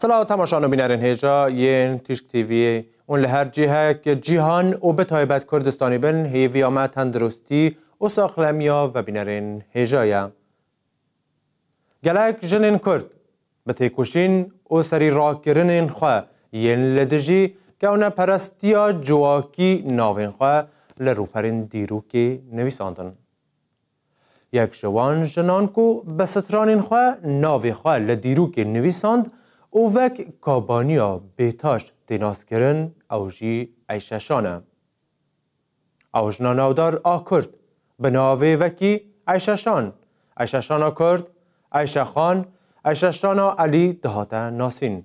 Silav temaşan û bînerên hêja yên Tîşk TV'ê û li her cihek cîhan û bi taybet Kurdistanî bin hêviya me tendurustî û saxlemiya vebînerên hêja ye. Gelek jinên Kurd bi têkoşîn û serî rakirinên xwe yên li dijî kewneperestiya civakî navên xwe li rûperên dîrokê nivîsandin. Yek ji wan jinan ku bi stranên xwe navê xwe li dîrokê nivîsand û wek Kabaniya Bêtaş tê naskirin ew jî Eyşeşan e. Ew jina navdar a Kurd bi navê wekî Eyşeşan, Eyşeşana Kurd, Eyşexan, Eyşeşana Elî dihate nasîn.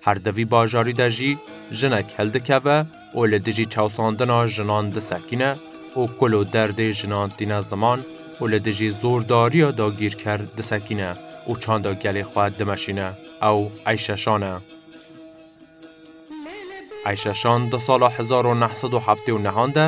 Her di vî bajarî de jî jinek hildikeve û li dijî çewsandina jinan disekîne û kul û derdê jinan tîne ziman û li dijî zordariya dagîrker disekîne û çanda gelê xwe dimeşîne ew Eyşe Şan e. Eyşe Şan di sala hezar û neh sed û heftê û nehan de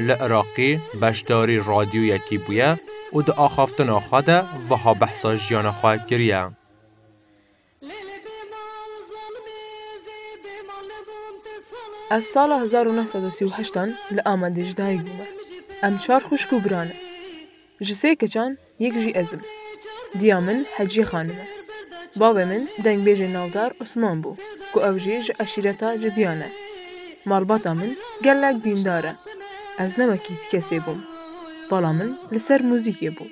li Iraqê beşdarî radyoyekî bûye û di axaftina xwe de wiha behsa jiyana xwe kiriye. Lê lê bê mal zalmê zê bê mal nebûm te sala Ez sala hezar û neh sed û sî û heşt an li Amedê ji dayik bûme. Em çar xwişk û bira ne. Ji sê keçan yek jî ez im. Diya min Heciye xanim e. Bavê min dengbêjê navdar Osman bû ku ew jî ji eşîreta Cibiyan e. Malbata min gelek dîndar e. Ez ne wekî ti kesê bûm. Pala min li ser muzîkê bû.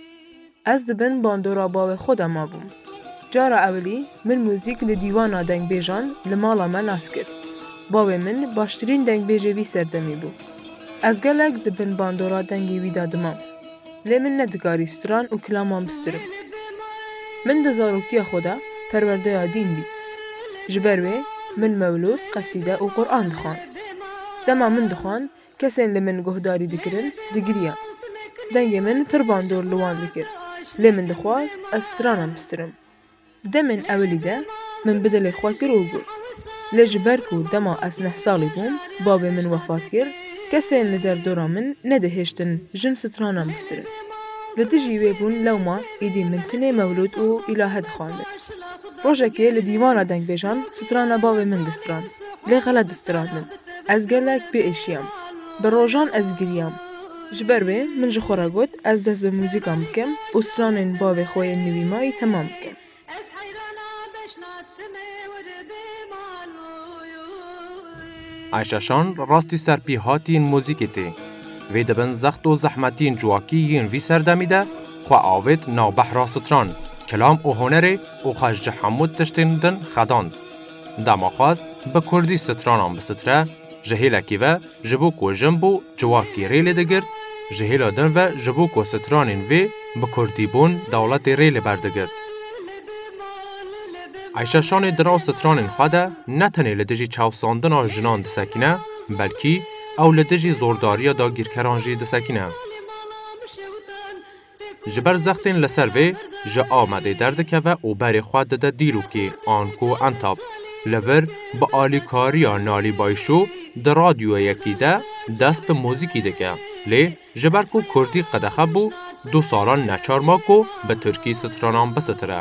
Ez di bin bandora bawê xwe de mabûm. Cara ewilî min muzîk li dîwana dengbêjan li mala me nas kir. Bawê min baştirîn dengbêjê vî serdemî bû. Ez gelek di bin bandora dengê wî de dimam. Lê min nedikarî stran û kilaman bistirim. Min di zarokiya xwe de perwerdeya dîn dît. Ji ber wê min mewlûd, qesîde û Quran dixwand. Dema min dixwand Kesên li min guhdarî dikirin, digiriyan. Dengê min pir bandor li wan dikir, lê min dixwaz ez strana bistirim. Di demên ewilî de min bi dilê xwe kir û got. Lê ji ber ku dema ez neh salî bûm bavê min wefat kir, kesên li derdora min nedihêştin jin strana bistirin. Li dijî wê bûn lewma êdî min tenê mewlûd û îlahe dixwendin. Rojekê li dîwana dengbêjan strana bavê min distrand, lê xelet distrandin. Ez gelek biêşiyam. Bi rojan ez giriyam. Ji ber wê min ji xwe re got ez dest bi muzîkan bikim û stranên bavê xwe yên li wî mayî temam bikim. Ayşe Şan rastî serpêhatî yên muzîkê tê. Vê di bin zext û zehmetiyên civakî yên vî serdemî de xwe avêt nav behra stran, kilam û hunerê û xwe ji hemû tiştên din xedand. Dema xwest bi kurdî stranan bistire, ji hêlekî ve ji bo ku jin bû ciwakî rê lê digirt, ji hêla din ve ji bo ku stranên vê bi kurdî bûn dewletê rê li ber digirt. Ayşe Şanê di nav stranên xwe de ne tenê li dijî çavsandina jinan disekîne, belkî ew li dijî zordariya dagîrkeran jî disekîne. Ji ber zextên li ser vê, ji Amedê derdikeve û berê xwe dide Dîlokê, anko Entap. Li vir bi alîkariya Nalî Bayşo di radyoyekî de dest bi muzîkî dike. Lê ji ber ku kurdî qedexe bû, du salan neçar ma ku bi tirkî stranan bisitire.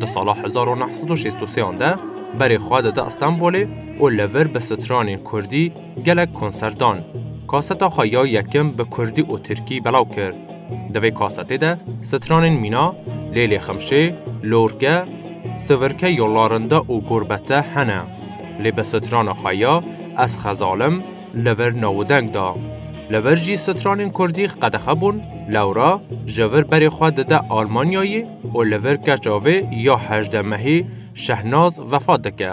Di sala hezar û neh sed û şêst û sêyan de berê xwe dide Stenbolê û li vir bi stranên kurdî gelek konser dan. Kaseta xwe ya yekim bi kurdî û tirkî belaw kir. Di vê kasetê de stranên Mîna, Lêlê Ximşê, Lorge, Sivirke Yollarında û Gurbete hene. Lê bi strana xwe ya Ez Xezalim, li vir navûdeng da. Li vir jî stranên Kurdî qedexe bûn, lewra ji vir berê xwe dide Almanyayê û li vir keça vê ya hejdeh mehî Şehnaz vefat dike.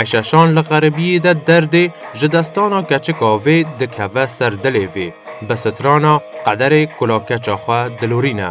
Eşeşan li xeribiyê de derdê ji destana keçika vê dikeve ser dilê vê, bi strana qederê kula keça xwe dilorîne.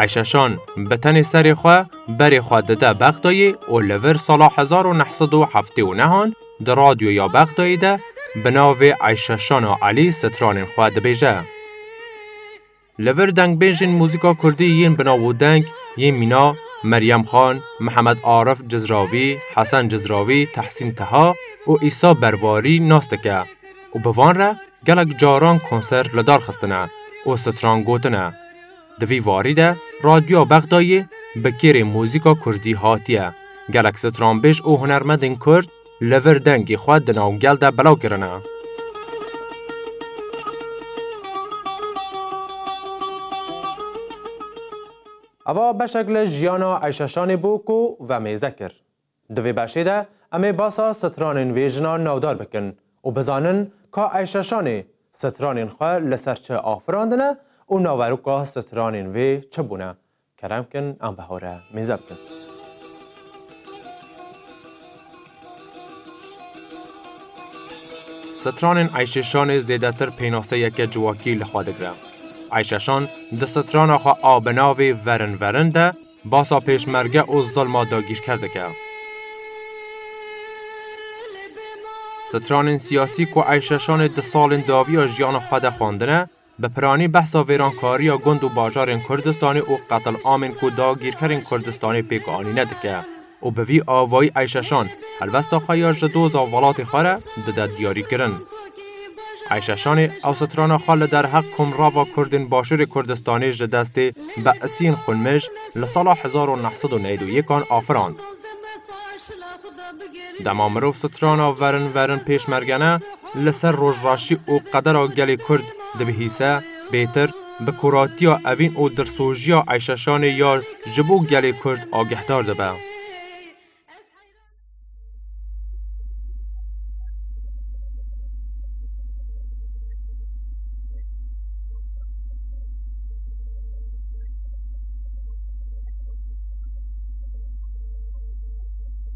Ayşeşan bi tenê serê xwe berê xwe dide Bexdayê û li vir sala hezar û neh sed û heftê û nehan di radyoya Bexdayê de bi navê Ayşeşana Elî stranên xwe dibêje. Li vir dengbêjên muzîka kurdî yên bi nav û deng yên mîna, Meryem Xan, Mihemed Arif Cizravî, Hesen Cizravî, Tehsîn Teha û Îsa Bervarî nas dike û bi van re gelek caran konser li dar xistine û stran gotine. Di vî warî de Radyoya Bexdayê bi kêrê muzîka kurdî hatiye gelek stranbêj û hunermendên kurd, li vir dengê xwe di nav gel de belav kirine. Eva beşek li jiyana Eyşeşanê bû ku vemêze kir. Di vê beşê de em ê basa stranên vê jina navdar bikin û bizanin ka Eyşeşanê stranên xwe li ser çi afirandine û naveroka stranên vê çi bûne Kerem bikin an bi hew re mêze bikin. Stranên Eyşeşanê zêdetir pênaseyeke civakî li xwe digire. Eyşeşan di strana xwe a bi navê Verin Verin de basa pêşmerge û zilma dagîrker dike. Stranên siyasî ku Eyşeşanê di salên dawiya jiyana xwe de xwendine, Bi piranî behsa vêrankariya gund û bajarên Kurdistanê û qetilamên ku dagîrkerên Kurdistanê pêk anîne dike û bi vî avayî Eyşeşan helwesta xwe ya ji doza welatê xwe re dide diyarîkirin. Eyşeşanê ew strana xwe li derheq komrava Kurdên Başûrê Kurdistanê ji destê Be'siyên xwinmij li sala hezar û neh sed û newîd û yek an afirand. Dema mirov strana verin verin pêşmergene li ser rojraşî û qedera gelê Kurd dibihîse, bêtir bi kuratiya evîn û dilsojiya Eyşeşanê ya ji bo gelê Kurd agehdar dibe.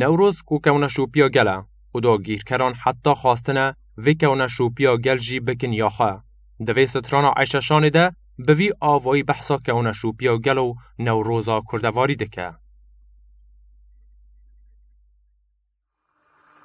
Newroz ku kewna şopiya gel e û dagîrkeran heta xwastine vê kewna şopiya gel jî bikin ya xwe. Di vê strana Eyşeşanê de bi vî avayî behsa kewna şopiya gel û Newroza Kurdevarî dike.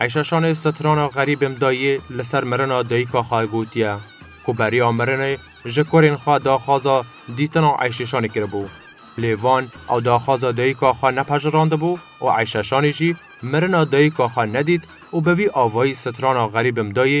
Eyşa Şanê setirana Xerîbim dayî li ser mirina dayîka xwe gotiye ku beriya mirinê ji kurên xwe daxwaza dîtina Eyşê Şanê kiribû. Lê van ew daxwaza dayîka xwe nepejirandibû û Eyşa Şanê jî mirina dayîka xwe nedît û bi vî avayî setirana Xerîbim dayî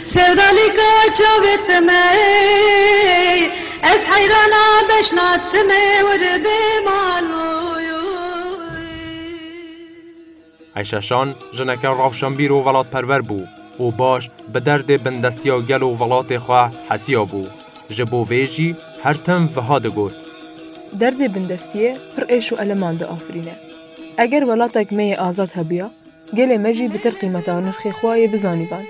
Sevdalîka çavê ti me ey. Ez heyrana beşna ti me wirbê maloyî. Ayşe Şan jineke rewşenbîr û welatperwer bû û baş bi derdê bindestiya gel û welatê xwe hesiya bû. Ji bo vê jî her tim wiha digot. Derdê bindestiyê pir êş û eleman diafirîne. Eger welatek me yê azad hebûya, Gelê me jî bi tir qîmeta nirxê xwe yê bizanîban.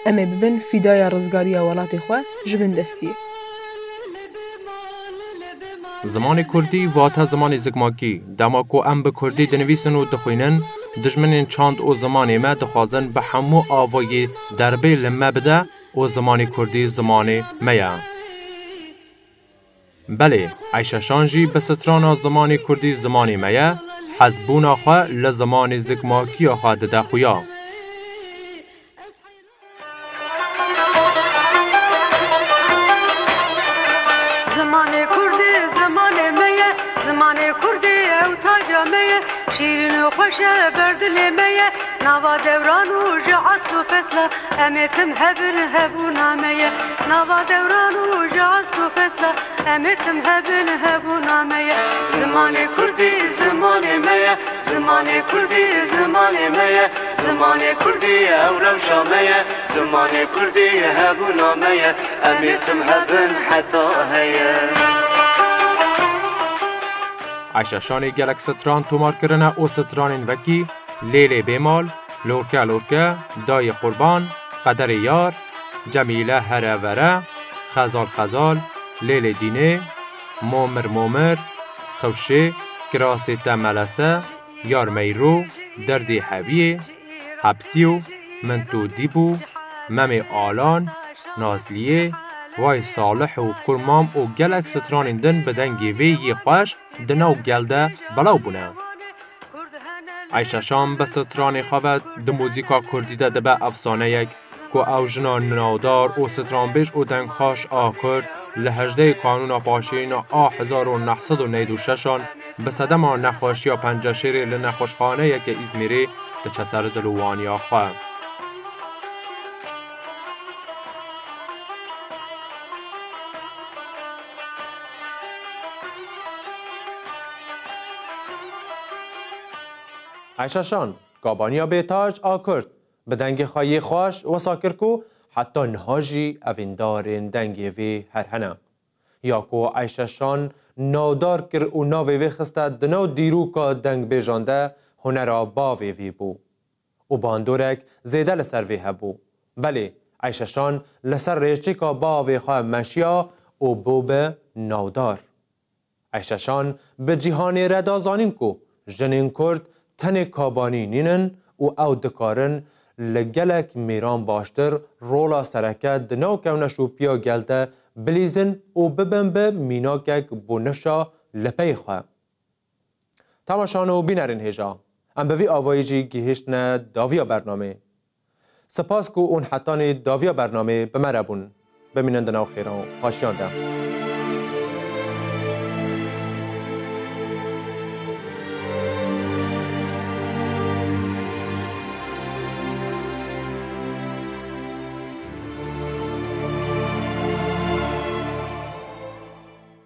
Em ê bibin fîdaya rizgariya welatê xwe ji bin destiyê. Zimanê kurdî vate zimanê zikmakî. Dema ku em bi kurdî dinivîsin û dixwînin, dijminên çand û zimanê me dixwazin bi hemû avayî derbê li me bide û zimanê kurdî zimanê me ye. Belê, Eyşeşan jî bi strana zimanê kurdî zimanê me ye, hezbûna xwe li zimanê zikmakiya xwe dide xuya. Em ê tim hebin hebûna me ye nava dewran û ji ast û xesta Em ê tim hebin hebûna me ye Zimanê kurdî zimanê me ye Zimanê kurdî zimanê me ye Zimanê kurdî ew rewşa me ye Zimanê kurdî hebûna me ye Em ê tim hebin heta heye Ayşe Şanê gelek stran tomar kirine û stranên wekî, Lêlê Bêmal, Lorke lorke dayê qurban qederê yar Cemîle here vere xezal xezal lêlê dînê Momir momir xewşê kirasê te melese Yar meyro derdê heviyê hepsîyo min to dîbû Memê alan nazliyê Vay Salih û Kur Mam û gelek stranên din bi dengê vê yê xweş di nav gel de belaw bûne. Ayşe Şam bi stranê xwe ve di muzîka kurdî de dibe efsaneyek ku ew jina ninadar û stranbêj û dengxweş a kurd li hejdehê kanûna paşiyêna a hezar û neh sed û newd û şeş an bi sedema nexweşiya penceşêrê li nexweşxaneyeke Îzmîrê diçe ser dil û waniya xwe. Ayşe Şan, Kabaniya Bêtaj a Kurd bi dengê xwe yê xweş wisa kir ku heta niha jî evîndarên dengê vê her hene. Ya ku Ayşe Şan navdar kir û navê vê xiste di nav dîroka dengbêjan de hunera bavê vî bû. û bandorek zêde li ser vê hebû. Belê, Eyşeşan li ser rêçêka bavê xwe meşiya û bû bi navdar. Eyşeşan bi cîhanê re da zanîn ku jinên Kurd tenê Kabanî nînin û ew dikarin li gelek mêran baştir rola sereke di nav kevneşopiya gel de bilîzin û bibin bi mînakek bo nifşa li pey xwe. Temaşan û bînerên hêja. Em bi vî avayî jî gihiştine daviya bernamê. Sipas ku ûn hetanî daviya bernamê bi me re bûn. Bimînin di nav xêran û xaşiyan de.